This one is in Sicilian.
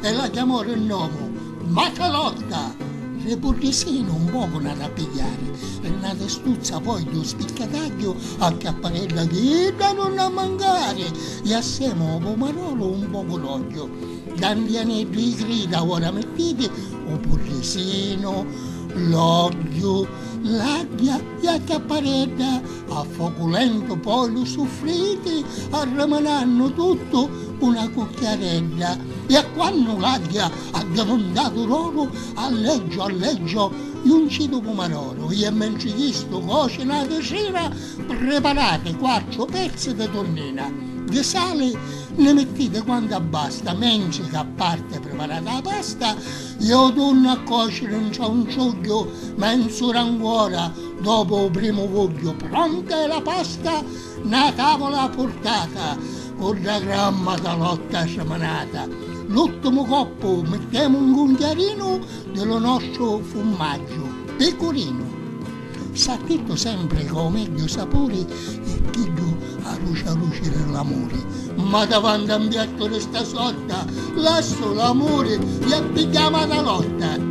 e la chiamò ri nomu Macalotta! Ri puddisinu un pocu n'adda pigghiari, ri na testuzza poi ddu spiccatagghiu a capparella chi idda nun n'ha mancari, e assemu ô pumarolu un pocu d'ogghiu, dandianeddu i grida ora mittiti u puddisinu, l'ogghiu, l'agghia, E a chiapparedda a focu lentu poi lu suffriti arramanannu tuttu cu na cucchiaredda e a quannu l'agghia addivintatu d'oru alleggio alleggio junci du pumaroru ie mentri chistu coci na tisira priparati quattru pezzi di tunnina di sali nni mittiti quantu abbasta mentri ca parti priparata la pasta Iò dunnu a còciri 'ntra un ciugghiu menzu ura anguora dopu u primu vugghiu. Pronta è la pasta, na tavula purtata, cu dda gramma da lotta siminata. L'uttimu coppu mittemu un cunchiarinu di lu nostru fummaggiu picurinu. S'attittu sempri ca u megghiu sapuri è chiddu aruci aruci di l'amuri, ma davanti a un piattu di sta sorta lassu l'amuri i a pigghiari a mana lorta.